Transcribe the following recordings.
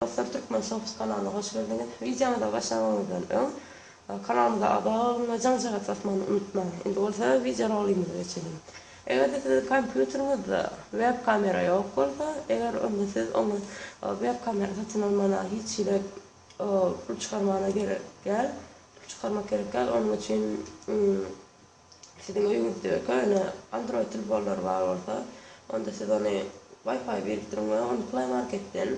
Dostlar Türkmen Showsy kanalyna hoş geldiňiz. Wideomyza başlamaňyzdan öň kanalymyza agza boluň we jaň-jarat basmany unutmaň. Indi bolsa wideo rolymyza geçeliň. Eger-de siziň kompýuteriňizde web kamera ýok bolsa, eger onda siz oňa web kamera satyn almana hiç hili pul çykarmana gerek däl, pul çykarmak gerek däl, onuň üçin Siziň öýüňizde köne Android telfonlary bar bolsa, onda siz ony Wi-Fi birikdiriň we ony Play Marketden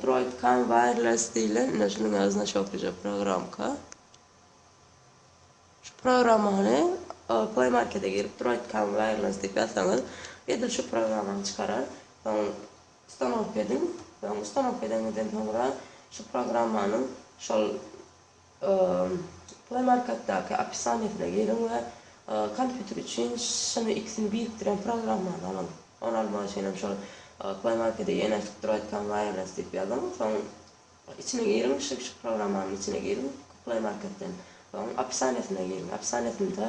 Droid Cam Wireless diýlen, ine şunuň ýaly znaçoklyja programka. Şu programany Play Markete girip Droid Cam Wireless diýip ýazsaňyz, edil şu programany çykarar. Soň ustanowka ediň. Soň ustanowka edeňizden soňra şu programmanyň şol Play Market-daky opisaniýasyna giriň we kompýuter üçin şuny ikisini birikdirýän programmany alyň. Ony almak üçin hem şol Play Market-e ýerleşip duraýkan Wireless diýip ýazyň. Soň içine giriň, şu şu programmanyň içine giriň Play Market-den. Soň opisaniýasyna giriň. Opisaniýasynda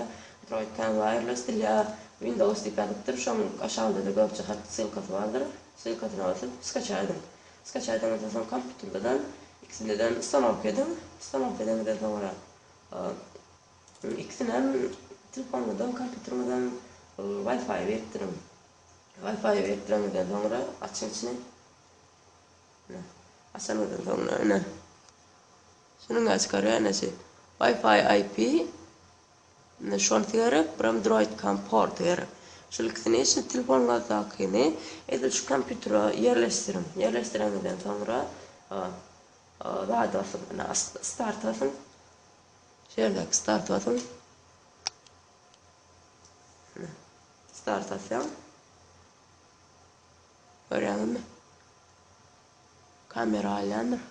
duraýkan Wireless dil ýa Windows diýip ýazypdyr. Şoň aşagynda-da görjek hat ssylkasy bardyr. Ssylkasyna basyp skaçaý ediň. Skaçaýdyňyzdan soň kompýuterden ikisindeden ustanowka ediň. Ustanowka edeňizden soňra ikisinem telefonyňyzdan kompýuteriňizden Wi-Fi beripdiriň. Wi-Fi beripdireňizden soňra açyň içini. Açanyňyzdan soňra ine. Şunuň açyk arýa eneşi. Wi-Fi IP Şonysy gerek, biram droid kom porty gerek. Şol ikisi ne üçin? Telefonyňyzdakyny edil şu kompýutere ýerleşdiriň. Ýerleşdireňizden soňra zat basyň. Ine, start basyň. Şu ýerdäki start basyň. Ine, start basýaň. Görýäňizmi? Kamera alýandyr.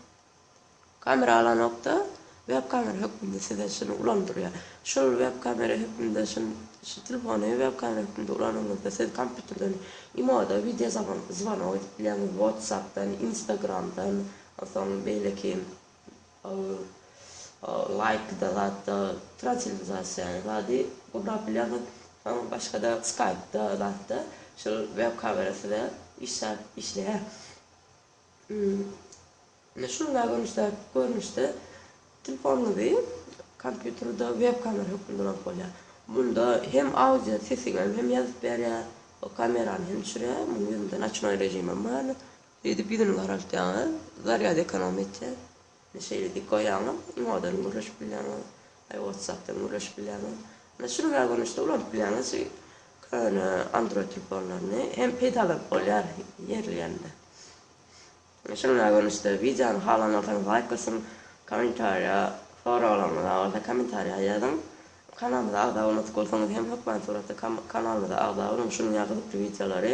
Kamera alanokda web kamera hökmünde size şuny ulandyrýar. Şul web kamera hökmünde şun şu telefony web kamera hökmünde ulanyňyzda siz kompýuterden imoda wideo zaban zwanok edip bilýäňiz watsapdan instagramdan onsoň beýleki laýkda zatda transilizasiýa zady gurnap bilýäňiz soň başgada skaýpda zatda şul web kamera size işläp işleýär. Indi şunda görnüşdäki görnüşde telefonuňyzy kompýuterde web kamera hökmünde ulanyp bolýar. Munda hem audio sesiňem hem ýazyp berýär, o kamerany hem düşürýär, munuň ýüzünde noçnoý režimem bar. Şeýdip ýüzüni garaltýaňyz, zarýad ekonom etýär. Indi şeýle dik goýaňyz, imodan gürleşip bilýäňiz, aý watsapdan gürleşip bilýäňiz. Indi şuny bä görnüşde ulanyp bilýäňiz şu köne android telefonlaryny hem peýdalanyp bolýar ýerli ýerinde. Şuny bä görnüşde wideony halan bolsaňyz laýk basyň, kommentariýa soraglaryňyz bar bolsa kommentariýa ýazyň. Kanalymyza agza bolmadyk bolsaňyz hem hökman suratda kanalymyza agza boluň şunuň ýaly gyzykly wideolary